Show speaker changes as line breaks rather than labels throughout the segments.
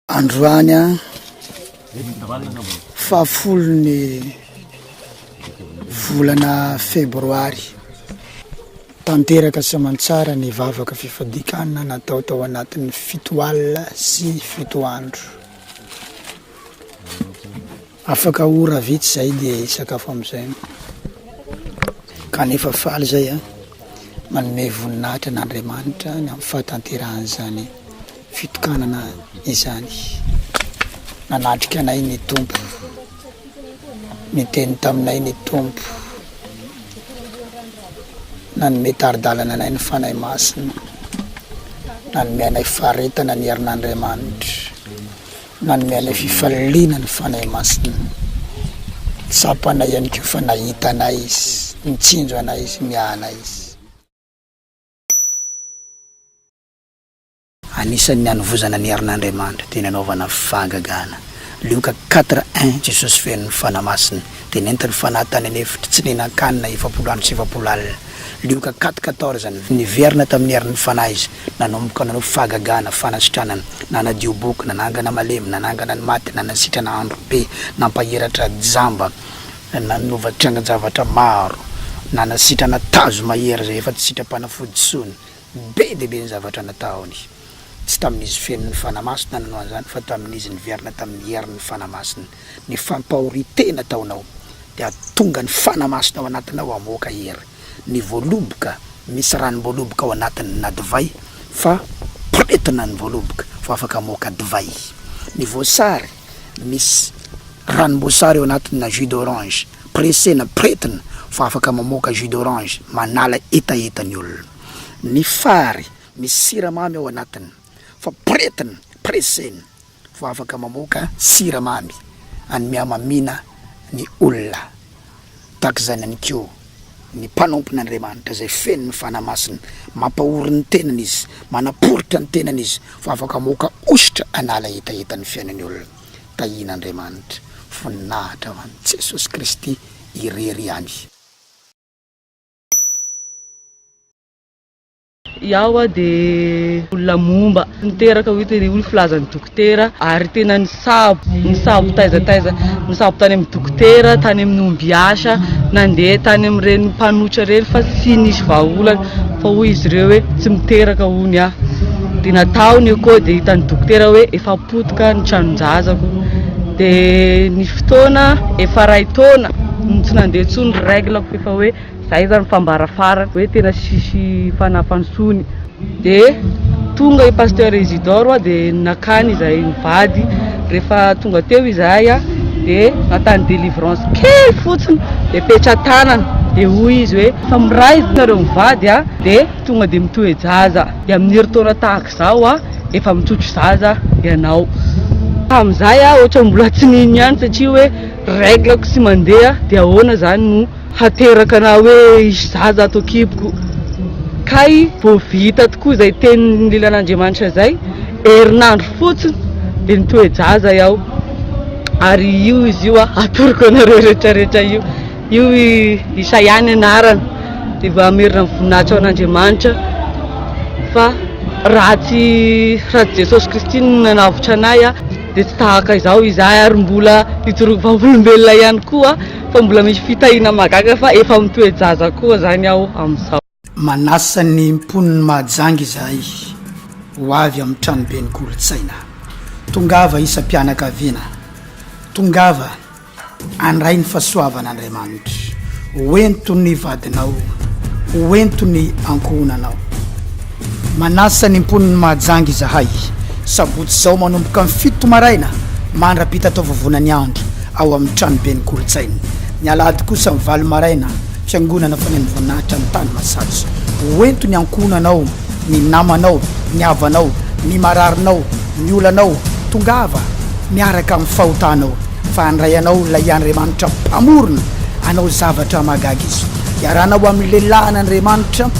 Androany fahafolon'ny volana febroary, tanteraka sy aman-tsara ny vavaka fifadikanana natao tao anatin'ny fito alina sy fito andro. Afaka ora vitsy zay dia hisakafo amizay aho. Kanefa faly zay aho manome voninahitra an'Andriamanitra ny amin'ny fahatanterahan'izany fitokanana izany. Nanatrika anay ny Tompo. Niteny taminay ny Tompo. Nanome tari-dalana anay ny Fanahy Masina. Nanome anay faharetana ny herin'Andriamanitra. Nanome anay fifaliana ny Fanahy Masina. Tsapanay ihany koa fa nahita anay Izy, nitsinjo anay Izy, miahanay Izy. Anisan' ny hanovozana ny herin' Andriamanitra dia ny hanaovana fahagagana. Lioka quatre un, Jesosy feno ny Fanahy Masina dia nentiny ny Fanahy tany an' efitra tsy nihinan-kanina efapolo andro sy efapolo alina. Lioka quatre quatorze, Niverina tamin' ny herin' ny Fanahy izy. nanomboka nanao fahagagana, fanasitranana, nanadio boky, nanangana malemy, nanangana ny maty, nanasitrana androbe, nampahiratra jamba, nanova triangan-javatra maro, nanasitrana tazo mahery izay efa tsy sitram-panafody intsony. Be dia be ny zavatra nataony. Tsy tamin'izy feno ny Fanahy Masina nanao an'izany fa tamin'izy niverina tamin'ny herin'ny Fanahy Masina. ny fampahorintena ataonao dia hahatonga ny fana masina ao anatinao hamoaka hery, ny voaloboka misy ranom-boaloboka ao anatin na divay fa poretina ny voaloboka vao afaka hamoaka divay, ny voasary misy ranom-boasary ao anatin na jus d'orange presena poretina vao afaka mamoaka jus d'orange manala hetaheta ny olona, ny fary misy siramamy ao anatin fa poretina presena. Vao afaka mamoaka siramamy any mihamamiana ny olona. Tahaka izany ihany koa ny mpanompon'Andriamanitra izay feno ny Fanahy Masina. Mampahory ny tenany izy, manaporitra ny tenany izy fa afaka mamoaka hosotra hanala hetaheta ny fiainan'ny olona. Tahian'Andriamanitra, voninahitra ho an'i Jesosy Kristy irery ihany.
Iaho dia olona momba niteraka hoy teny hoy ny filazan'ny dokotera ary tena nisabo nisabo taiza taiza nisabo tany amin'ny dokotera tany amin'ny ombiasa nandeha tany amin'ireny mpanotra ireny fa tsy nisy vahaolana fa hoy izy ireo hoe tsy miteraka hoy aho dia natao ny eko dia hitan'ny dokotera hoe efa potika ny tranon-jazako dia ny fotoana efa iray taona no tsy nandeha intsony ny règle-ko efa hoe Zay zany fambara farany hoe tena sisy fanahy fanosony. De tonga i Pasteur Isidore a de nakany izay mivady, rehefa tonga teo izahay a de natany delivrance kely fotsiny de petra-tanana de hoy izy hoe fa miray ve nareo mivady a de tonga de mitoe-jaza de amin'ny herintaona tahaka izao a efa mitrotro zaza ianao. Tamin'izay aho ohatra mbola tsy nino ihany satria hoe règle-ko tsy mandeha de ahoana zany no. hateraka na hoe hisy zaza ato an-kiboko kay vao vita tokoa izay teniny lilan'Andriamanitra izay herinandro fotsiny dia nitoe-jaza iaho ary io izy io a atoroko anareo rehetrarehetra io io isa ihany anarana dia vao hamerina ny voninahitra ao an'Andriamanitra fa raha tsy raha tsy Jesosy Kristy no nanavotra anay a dia tsy tahaka izao izahay ary mbola hitoroko vavolombelona ihany koa fa mbola misy fitahiana mahagaga fa efa mitoe-jaza koa zany aho amin'izao. Manasa ny
mponin'i Mahajanga izahay ho avy amin'ny tranoben'ny kolontsaina. Tongava isam-pianakaviana, tongava andray ny fahasoavan'Andriamanitra ho ento ny vadinao, ho ento ny ankohonanao. Manasa ny mponin'i Mahajanga izahay, sabotsy izao manomboka ny fito maraina mandra-pita taovovona ny andro ao amin'ny tranoben'ny kolontsaina. Ny alahady kosa amin'ny valo maraina, fiangonana fonen'ny voninahitra any Tanimasiatso. Hoento ny ankohonanao, ny namanao, ny havanao, ny mararinao, ny olanao, tongava miaraka amin'ny fahotanao. Fa handray anao Ilay Andriamanitra Mpamorona hanao zavatra mahagaga Izy. Iarahana ho amin'ny lehilahin' Andriamanitra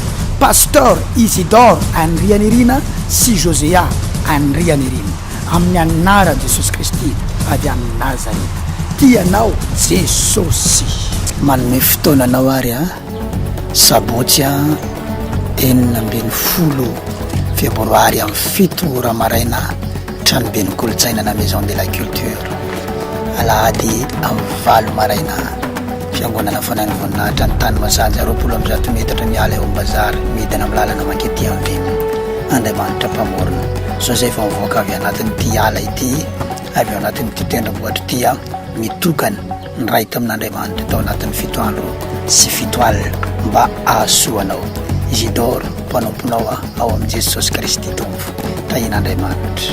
Pasteur Isidore Andrianirina sy Josea Andrianirina amin'ny anaran'i Jesosy Kristy avy any Nazareta. Tia anao Jesosy. Manome fotoana anao ary an. Sabotsy enina ambin'ny folo febroary amin'ny fito ora maraina tranoben'ny kolontsaina na maison de la culture alahady amin'ny valo maraina fiangonana fanan'ny voninahitra ny tany masaja roapolo amin'ny zato metatra miala eo ambazary midina amin'ny lalana mankety andrimo andriamanitra mpamorona joseph mivoaka avy anatin'ity ala ity avy eo anatin'ity tendrombohitra ity mitokana Niray tamin'Andriamanitra tao anatin'ny fito andro sy fito alina mba hahasoa anao. Isidoro, mpanomponao aho ao amin'i Jesosy Kristy Tompo. Tahian'Andriamanitra.